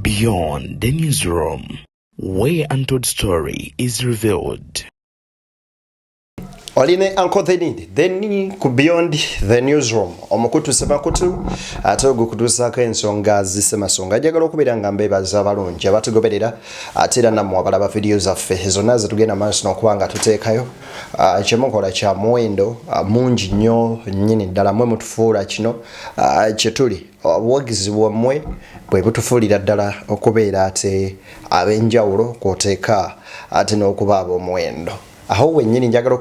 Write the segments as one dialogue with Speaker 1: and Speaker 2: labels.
Speaker 1: Beyond the newsroom, where untold story is revealed.
Speaker 2: oline anko thenid then ku beyond the newsroom omukutu sebakutu ate ogukutuusaako ensonga zisemasonga ajagala okubeera nga mbeebaza abalungi abatugoberera ate era nammwe abalaba vidiyo zaffe zonna zetugenda maaso nokuba nga tuteekayo Ah, kyemukola kya muwendo ah, mungi nnyo nnyini ddala mwe mutufuula kino ah, kyetuli obuwagizi bwammwe bwe butufuulira ddala okubeera ate ab'enjawulo kwoteeka ate n'okuba ab'omuwendo awo wennyini njagala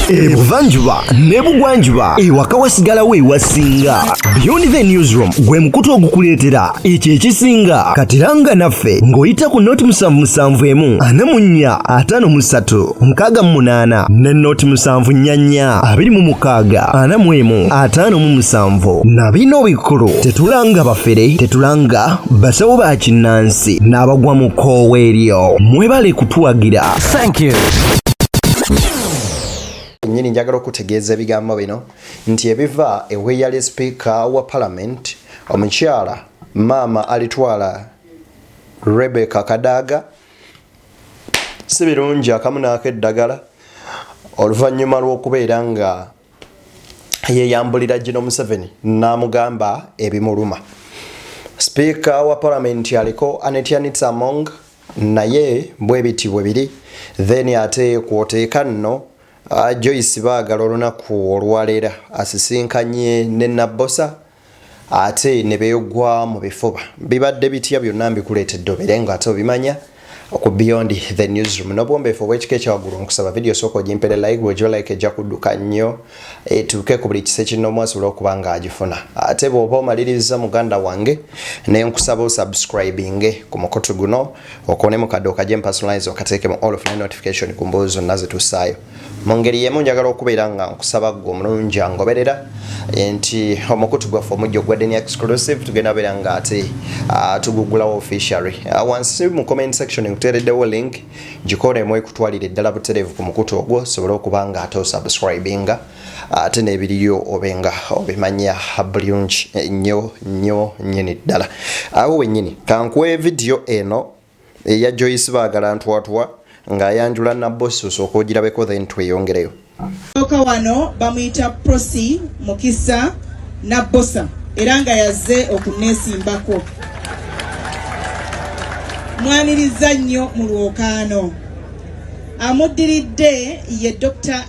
Speaker 2: ebuvanjuba
Speaker 3: nebugwanjuba ewaka wasigalawo ewasinga beyond the newsroom gwe mukutu ogukuleetera ekyo ekisinga katiranga naffe ng'oyita ku nooti musanvu musanvu emu ana mu nnya ataano mu ssatu nkaaga mu munaana ne nooti musanvu nnya nnya abiri mu mukaaga ana mu emu ataano mu musanvu na bino obikulu tetulanga bafere tetulanga basawo ba kinnansi n'abagwa mu koowa eryo mwebale kutuwagira nyini
Speaker 2: njagala okutegeeza ebigambo bino nti ebiva eweeyali sipiika wa palamenti Omukyala maama alitwala Rebecca Kadaga si birungi akamu naako eddagala oluvannyuma lw'okubeera nga yeyambulira gino Museveni n'amugamba ebimuluma. Sipiika wa palamenti aliko Anetianitsa Among naye bwe biti bwe biri then ate kwoteeka nno Ah, Joyce baagala olunaku olwaleera asisinkanye ne Nabbosa ate ne beegwa mu bifuba. Bibadde bitya byonna mbikuleetedde obeere nga ate obimanya ku Beyond the Newsroom. N'obuwombeefu obw'ekika ekyawaggulu nkusaba vidiyo sooka ogimpere like bw'ogiwa like ejja kudduka nnyo etuuke ku buli kise kinnoomu asobola okuba ng'agifuna. Ate bw'oba omaliriza muganda wange ne nkusaba osubscribinge ku mukutu guno. okone mu kaddo kaje mu personalize okateeke mu all of my notification ku mboozi zonna zetussaayo mu ngeri yemu njagala okubeera nga nkusaba gwe omulungi angoberera nti omukutu gwaffe omujja ogwadde ne exclusive tugenda beera nga ate ah, tugugulawo officially ah, wansi mu comment section nkuteereddewo link gikola emu ekutwalira eddala butereevu ku mukutu ogwo osobole okuba nga ate osubscribinga ate nebiriyo obenga obimanya bulungi nyo nyo nyini ddala awo wenyini kankuwe vidiyo eno eya joyce baagala ntwatwa ng'ayanjula nabosi osooka ogirabeko then tweyongereyo oka wano
Speaker 4: bamuyita prosi mukisa nabosa era nga yazze okunesimbako mwaniriza nnyo mu lwokaano amuddiridde ye dr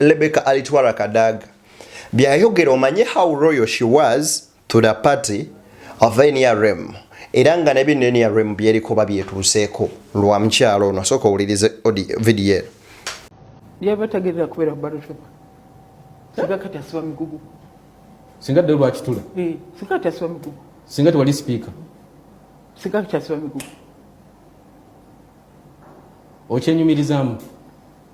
Speaker 2: Lebeka Alitwala Kadaga byayogera omanye how royal she was to the party of NRM era nga ne bino NRM byerikoba byetuuseeko lwa mukyalo ono asooka owulirize vidiyo eno yaba
Speaker 5: tagerera kubeera ku balotoba singa kati asiba migugu singa
Speaker 6: dde lwakitula eh, singa kati asiba
Speaker 5: migugu singa tewali sipiika
Speaker 6: singa
Speaker 5: kati asiba migugu
Speaker 6: okyenyumirizaamu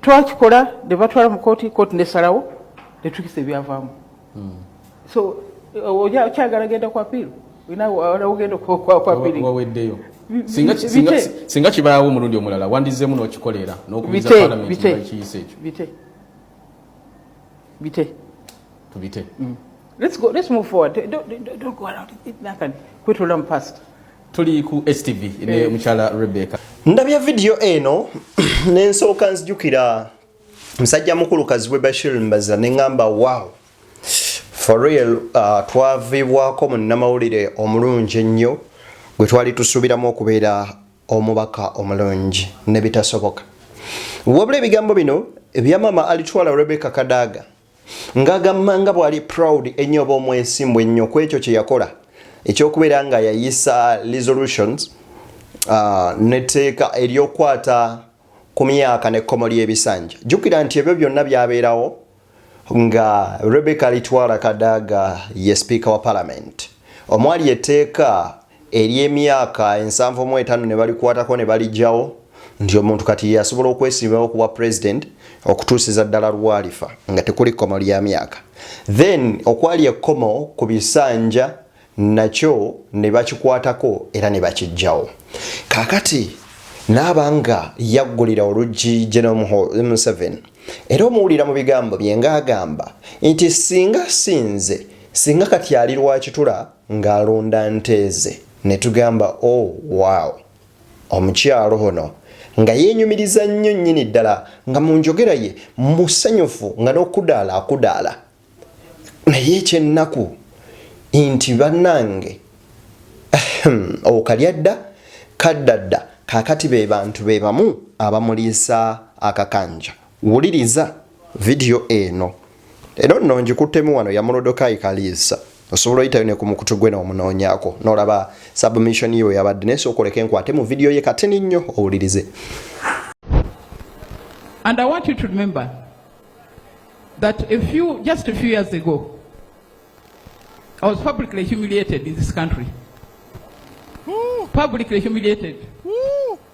Speaker 5: twakikola ne batwala mu kooti kooti nesalawo netukisa ebyavaamu hmm. so okyagala genda ku apiiru ogenda kuapiriwaweddeyo
Speaker 6: singa kibaawo omulundi omulala wandizeemu n'okikolera n'okubiza palamenti ekiyisa ekyo bite bite tubite mm. let's
Speaker 5: go let's move forward don't, don't, don't go around nakani kwetula mu past tuli ku
Speaker 6: HTV ne eh. mukyala Rebecca. Ndabye video
Speaker 2: eno nensooka nzijukira musajja mukulu Kazibwe Bashir Mbaza ne ngamba wow for real uh, twavibwako munnamawulire omulungi ennyo gwe twali tusuubiramu okubeera omubaka omulungi ne bitasoboka. Wabula ebigambo bino ebya maama alitwala Rebecca Kadaga ngagamba nga bwali proud ennyo oba omwesimbu ennyo ku ekyo kye yakola ekyokubeera nga yayisa resolutions uh, neteeka eryokwata ku myaka nekkomo lyebisanja jukira nti ebyo byonna byabeerawo nga rebecca litwala kadaaga ye speaker wa parliament omwali eteeka ery'emyaka ensanvu mu etaano ne balikwatako ne baligyawo nti omuntu kati ye asobola okwesimbawo ku bwa president okutuusiza ddala lwalifa nga tekuli kkomo lya myaka then okwali ekkomo ku bisanja nakyo ne bakikwatako era ne bakiggyawo kaakati naaba nga yaggulira oluggi genome museven era omuwulira mu bigambo bye nga agamba nti singa sinze singa kati ali lwakitula nga alunda nte ze netugamba oh wow omukyalo ono nga yenyumiriza nnyo nnyini ddala nga mu njogera ye musanyufu nga n'okudaala akudaala naye ekyennaku nti bannange okalya dda kadda dda kakati be bantu be bamu abamuliisa akakanja Wuliriza vidiyo eno era onno ngikuttemu wano ya Morodokai Kaliisa osobola oyitayo ne ku mukutu gwe n'omunoonyako n'olaba submission ye yabadde naye sookoleka enkwate mu vidiyo ye katini nnyo owulirize
Speaker 5: And I want you to remember that a few, just a few years ago, I was publicly humiliated in this country. Publicly humiliated.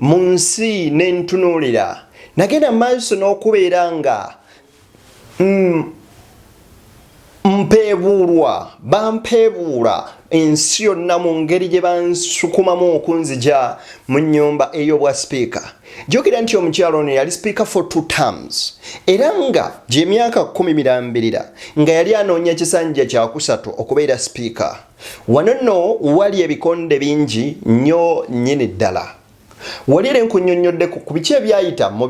Speaker 2: mu nsi ne ntunuulira nagenda mu maaso n'okubeera nga mm, mpeebuulwa bampeebuula ensi yonna mu ngeri gye bansukumamu okunzija mu nnyumba ey'obwa sipiika jjukira nti omukyalo ono yali sipiika for two terms era nga gy'emyaka kumi mirambirira nga yali anoonya kisanja kyakusatu okubeera sipiika Wano nno wali ebikonde bingi nnyo nnyini ddala. Wali era enkunnyonnyodde ku ku biki ebyayita mu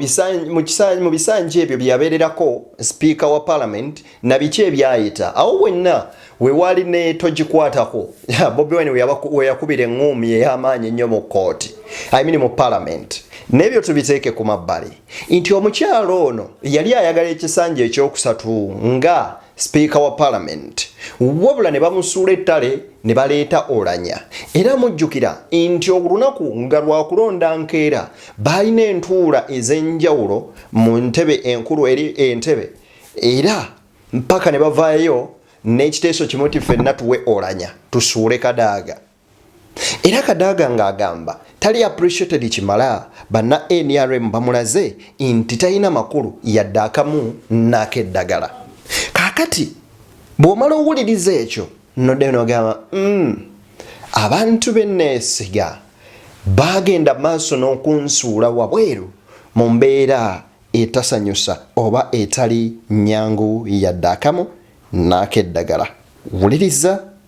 Speaker 2: mu bisanja ebyo bye yabeererako sipiika wa palamenti na biki ebyayita. Awo wenna we waali ne togikwatako Bobi Wine we yakubira eŋŋuumi ey'amaanyi ennyo mu kkooti, I mean mu palamenti. N'ebyo tubiteeke ku mabbali nti omukyala ono yali ayagala ekisanja ekyokusatu nga sipiika wa palamenti wabula ne bamusuula ettale ne baleeta olanya era mujjukira nti olunaku nga lwakulonda nkeera baalina entuula ez'enjawulo mu ntebe enkulu eri entebe era mpaka ne bavaayo n'ekiteeso kimu ti ffenna tuwe olanya tusuule kadaaga era kadaaga ng'agamba tali appreciated kimala banna nrm bamulaze nti talina makulu yadde akamu n'akeddagala kaakati bw'omala owuliriza ekyo nodde nogamba mm, abantu be neesiga baagenda maaso n'okunsuula wabweru mu mbeera etasanyusa oba etali nyangu yadde akamu n'akeddagala wuliriza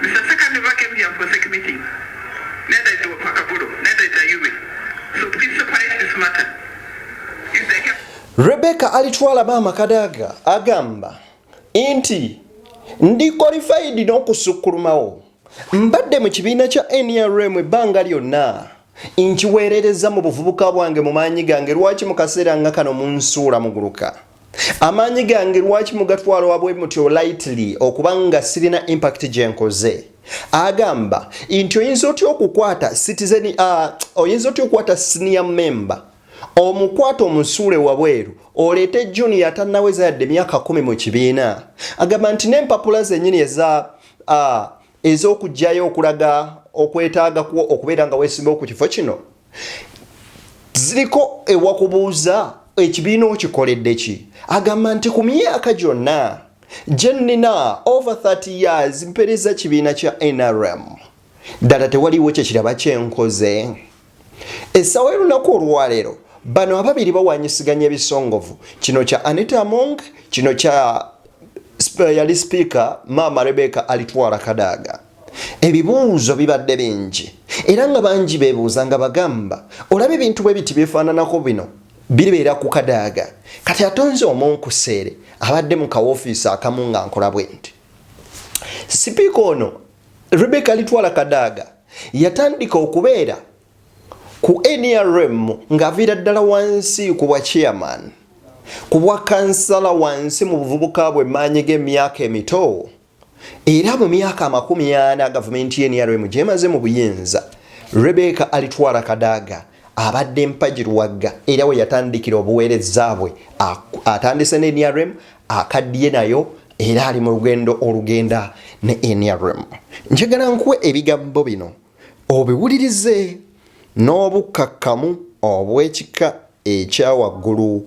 Speaker 5: Mister Sekandi Luba came here for sec meeting. Neither is Wapakaburo, neither is Ayume. So please separate this matter. If they have... Rebecca alitwala
Speaker 2: maama Kadaga agamba nti ndi qualified n'okusukulumawo mbadde mu kibiina kya NRM ebbanga lyonna nkiweerereza mu buvubuka bwange mu maanyi gange lwaki mu kaseera nga kano munsuula muguluka amaanyi gange lwaki mugatwala wabwe mutyo lightly okuba nga sirina impact gye nkoze agamba nti oyinza otya okukwata citizen uh, oyinza otya okukwata senior member omukwata omusuule wabweru oleete junior atanaweza yadde emyaka kumi mu kibiina agamba nti n'empapula zenyini eza uh, ez'okugyayo okulaga okwetaaga kwo okubeera nga wesimbawo ku kifo kino ziriko ewakubuuza ekibiina okikoledde ki agamba nti ku myaka gyonna gye nnina over 30 years mpereza kibiina kya nrm ddala tewaliwo kyekiraba kyenkoze essawa elunaku olwaleero bano ababiri bawanyisiganya ebisongovu kino kya anita among kino kya yali sipiika maama rebeka alitwala kadaaga ebibuuzo bibadde bingi era nga bangi bebuuza nga bagamba olaba ebintu bwe biti byefaananako bino biribeera ku kadaaga kati atonze omunkuseere abadde mu kawofiisi akamu nga nkola bwe nti sipiika ono rebeka alitwala kadaaga yatandika okubeera ku nrm ng'aviira ddala wansi ku bwa chairman ku bwa kansala wansi mu buvubuka bwe maanyi g'emyaka emito era mu myaka amakumi ana gavumenti y'enrm gyemaze mu buyinza rebeka alitwala kadaaga abadde mpagi luwagga era we yatandikira obuweereza bwe atandise ne nrm akaddiye nayo era ali mu lugendo olugenda ne nrm njagala nkuwe ebigambo bino obiwulirize n'obukkakkamu obw'ekika ekyawaggulu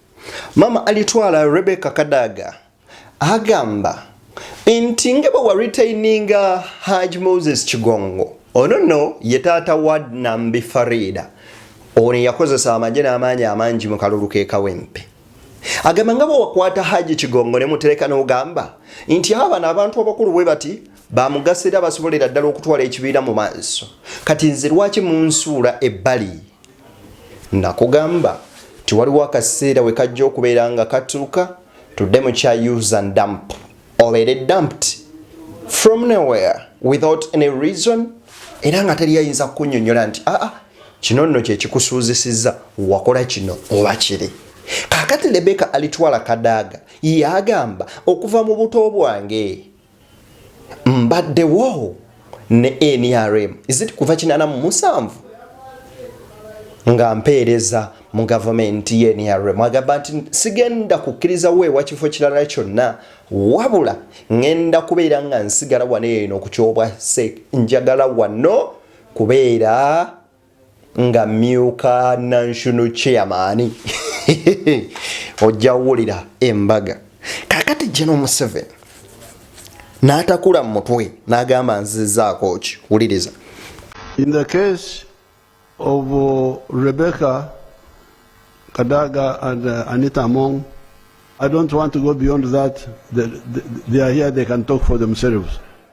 Speaker 2: Maama alitwala Rebecca Kadaga agamba nti nga bwe waritaininga Haj Moses Kigongo ono nno ye taata wa Nambi Farida ono yakozesa amagye n'amaanyi amangi mu kalulu k'e Kawempe agamba nga bwe wakwata Haji Kigongo ne mutereka n'ogamba nti abo bano abantu abakulu bwe bati bamugasa era basobolera ddala okutwala ekibiina mu maaso kati nze lwaki munsuula ebbali nakugamba tiwaliwo akaseera we kajja okubeera nga katuuka tudde mu kya use and dump obeere dumped from nowhere without any reason era nga teri ayinza kukunyonyola nti aa ah, ah, kino nno kyekikusuuzisizza wakola kino oba kiri kakati lebeka alitwala kadaaga yagamba okuva mu buto bwange mbadde wo ne nrm izit kuva kinana mu musanvu nga mpeereza mu gavumenti ye nrm agamba nti sigenda kukkiriza weewa kifo kirala kyonna wabula ŋenda kubeera nga nsigala wano eno okukyobwase njagala wano kubeera nga myuka nanshono chairmani ojja wulira embaga kakati jeno museven n'atakula mu mutwe n'agamba nzizaako ki wuliriza in the
Speaker 7: case of uh, rebecca kadaga and uh, anita among i don't want to go beyond that they, they, they are here they can talk for themselves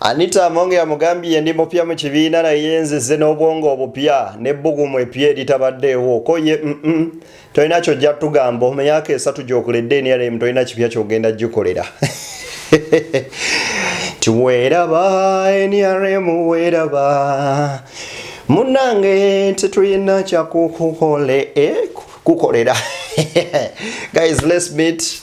Speaker 2: Anita Amonge yamugambye ndi mupya mu kibiina naye nzize n'obwongo obupya n'ebbugumu epya eritabaddeewo ko ye mm -mm. tolina kyojja tugamba mu myaka esatu gyokuledde nrm tolina kipya kyogenda gikolera ti weeraba nrm weeraba munange tetulina kyakukukolera eh, guys let's meet